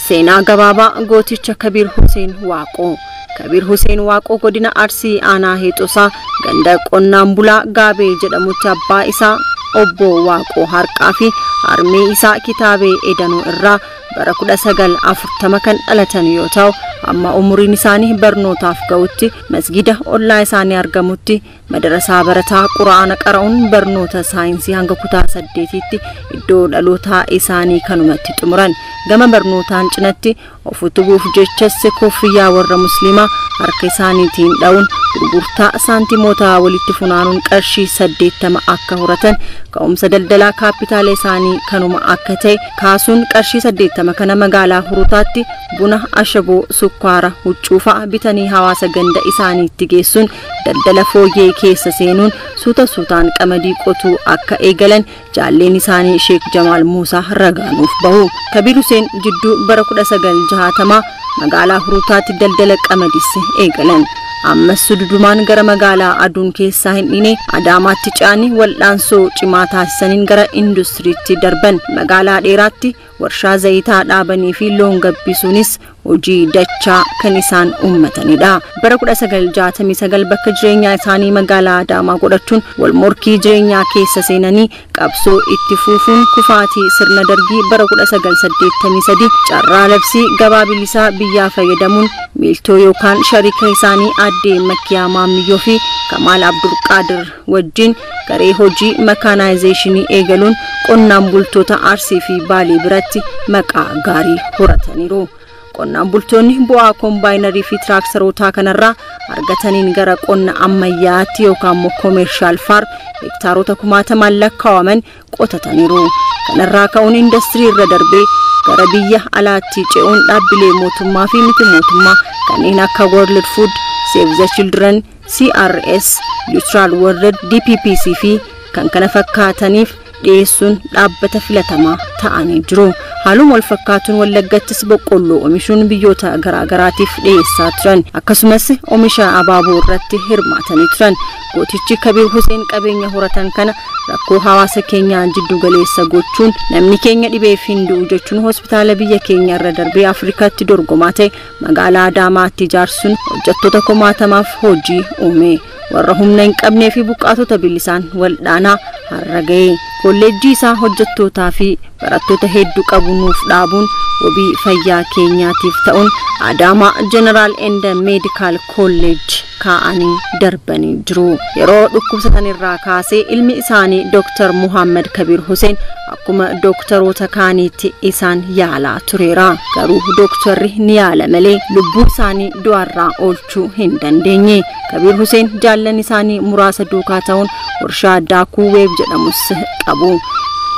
Seenaa gabaabaa gooticha Kabiir Huseen Waaqoo. Kabiir Huseen Waaqoo godina Arsii aanaa Heexosaa ganda qonnaan bulaa Gaabee jedhamutti abbaa isaa obbo Waaqoo Harqaa fi harmee isaa kitaabee edanuu irraa bara 1940 kan dhalatan yoo ta'u amma umuriin isaanii barnootaaf ga'utti masgida ollaa isaanii argamutti Madarasaa barataa qura'aana qara'uun barnoota saayinsii hanga kutaa saddeetiitti iddoo dhalootaa isaanii kanumatti xumuran. Gama barnootaan cinatti of utubuuf jechas kofiyyaa warra musliimaa harka isaaniitiin dha'uun gurgurtaa saantimoota walitti funaanuun qarshii saddeettama akka horatan ka'umsa daldalaa kaappitaala isaanii kanuma akka ta'e kaasuun qarshii saddeettama kana magaalaa hurutaatti buna ashaboo sukkaara huccuu fa'a bitanii hawaasa ganda isaaniitti geessuun daldala fooyyee keessa seenuun suuta suutaan qamadii qotuu akka eegalan jaalleen isaanii Sheek Jamaal Muusaa ragaa nuuf bahu. Kabiir Huseen jidduu bara 1960 magaalaa Hurutaatti daldala qamadiis eegalan. Ammas sududumaan gara magaalaa aduun keessaa hin dhiine Adaamaatti ce'anii wal'aansoo cimaa taasisaniin gara industiriitti darban. Magaalaa dheeraatti warshaa zayitaa dhaabanii fi loon gabbisuunis hojii dachaa kan isaan uummatanidha. Bara 1969 bakka jireenyaa isaanii magaalaa Adaamaa godhachuun wal morkii jireenyaa keessa seenanii qabsoo itti fuufuun kufaatii sirna dargii bara 1983 carraa labsii gabaa bilisaa biyyaa fayyadamuun miiltoo yookaan shariika isaanii addee Makkiyaa Maammiyyoo fi Kamaal Abdulqaadir wajjin garee hojii makaanaayizeeshinii eegaluun qonnaan bultoota Arsii fi Baalee biratti maqaa gaarii horataniiru. Qonnaan bultoonni bu'aa kombaayinarii fi tiraaktarootaa kanarraa argataniin gara qonna ammayyaatti yookaan immoo koomeershaal faarm hektaarota kumaatamaan lakkaa'aman qotataniiru. Kanarraa ka'uun indastirii irra darbee gara biyya alaatti ce'uun dhaabbilee mootummaa fi miti mootummaa kanneen akka World Food, Save the Children, CRS, Neutral World, DPPC fi kan kana fakkaataniif dhiyeessuun dhaabbata filatamaa ta'anii jiru. Haaluma wal fakkaatuun Wallaggattis boqqolloo omishuun biyyoota garaagaraatiif dhiyeessaa turan. Akkasumas omisha abaaboo irratti hirmaatanii turan. Gootichi Kabiir Huseen qabeenya horatan kana rakkoo hawaasa keenyaa jiddu galeessa gochuun namni keenya dhibeef hin du'u jechuun hospitaala biyya keenya irra darbee Afrikaatti dorgomaa ta'e Magaalaa Adaamaatti ijaarsuun hojjettoota kumaatamaaf hojii uume. Warra humna hin qabnee fi buqqaatota bilisaan waldhaanaa har'a ga'e. Kolleejjii isaa hojjettootaa fi barattoota hedduu qabu nuuf dhaabuun wabii fayyaa keenyaatiif ta'uun Adaamaa Jeneraal Enda Meedikaal Kolleejji kaa'anii darbanii jiru. Yeroo dhukkubsatan irraa kaasee ilmi isaanii Dr. Muhammad Kabiir Huseen akkuma dooktaroota kaaniitti isaan yaalaa tureera. Garuu dooktarri ni yaala malee lubbuu isaanii du'arraa oolchuu hin dandeenye. Kabiir Huseen jaallan isaanii muraasa duukaa ta'uun warshaa daakuu weeb jedhamus qabu.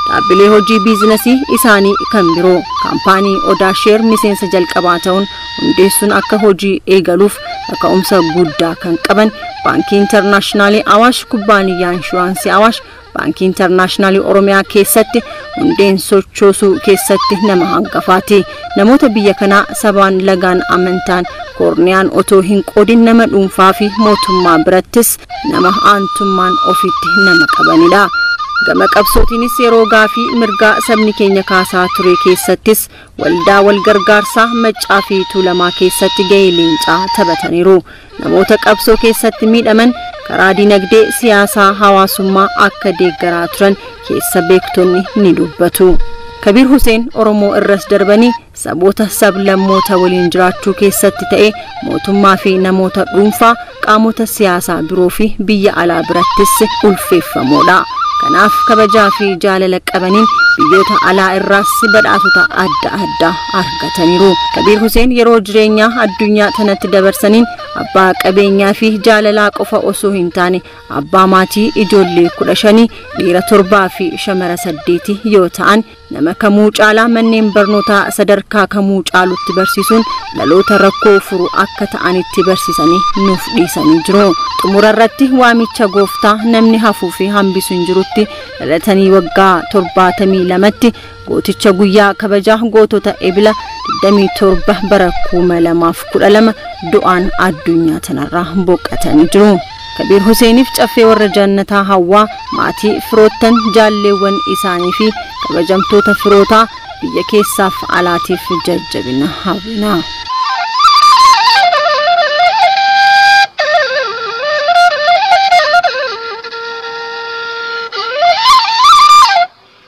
Dhaabbilee hojii biizinasii isaanii kan biroo kaampaanii Odaa Sheer miseensa jalqabaa ta'uun hundeessuun akka hojii eegaluuf kaka'umsa guddaa kan qaban Baankii Intarnaashinaalii Awaash Kubbaaniyyaa Inshuraansii Awaash Baankii Intarnaashinaalii Oromiyaa keessatti hundeen sochoosuu keessatti nama hangafaati. Namoota biyya kanaa sabaan lagaan amantaan koorniyaan otoo hin qoodin nama dhuunfaa fi mootummaa birattis nama aantummaan ofitti nama qabanidha. Gama qabsootiinis yeroo gaafii mirgaa sabni keenya kaasaa ture keessattis Waldaa Walgargaarsaa Maccaa fi Tuulamaa keessatti gahee leencaa taphataniiru. Namoota qabsoo keessatti miidhaman karaa dinagdee, siyaasaa, hawaasummaa akka deeggaraa turan keessa beektonni ni dubbatu. Kabiir Huseen Oromoo irras darbanii saboota sablammoota waliin jiraachuu keessatti ta'ee mootummaa fi namoota dhuunfaa qaamota siyaasaa biroo fi biyya alaa birattis ulfeeffamoodha. Kanaaf kabajaa fi jaalala qabaniin biyyoota alaa irraas badhaasota adda addaa argataniiru. Kabiir Huseen yeroo jireenyaa addunyaa tanatti dabarsaniin abbaa qabeenyaa fi jaalalaa qofa osoo hin taane abbaa maatii ijoollee kudha shanii dhiira torbaa fi shamara saddeeti yoo ta'an Nama kamuu caalaa manneen barnootaa sadarkaa kamuu caalutti barsiisuun dhaloota rakkoo furu akka ta'anitti barsiisanii nuuf dhiisanii jiru. Xumura irratti waamicha gooftaa namni hafuu fi hambisu hin jirutti dhalatanii waggaa 72tti gooticha guyyaa kabajaa gootota ebila 27 bara 2012 du'aan addunyaa tanarraa boqatanii jiru. Kabiir Huseeniif Caffee Warra Jaannataa Hawwaa, Maatii, Firoottan, Jaalleewwan isaanii fi Kabajamtoota Firootaa biyya keessaaf alaatiif jajjabina hawwina.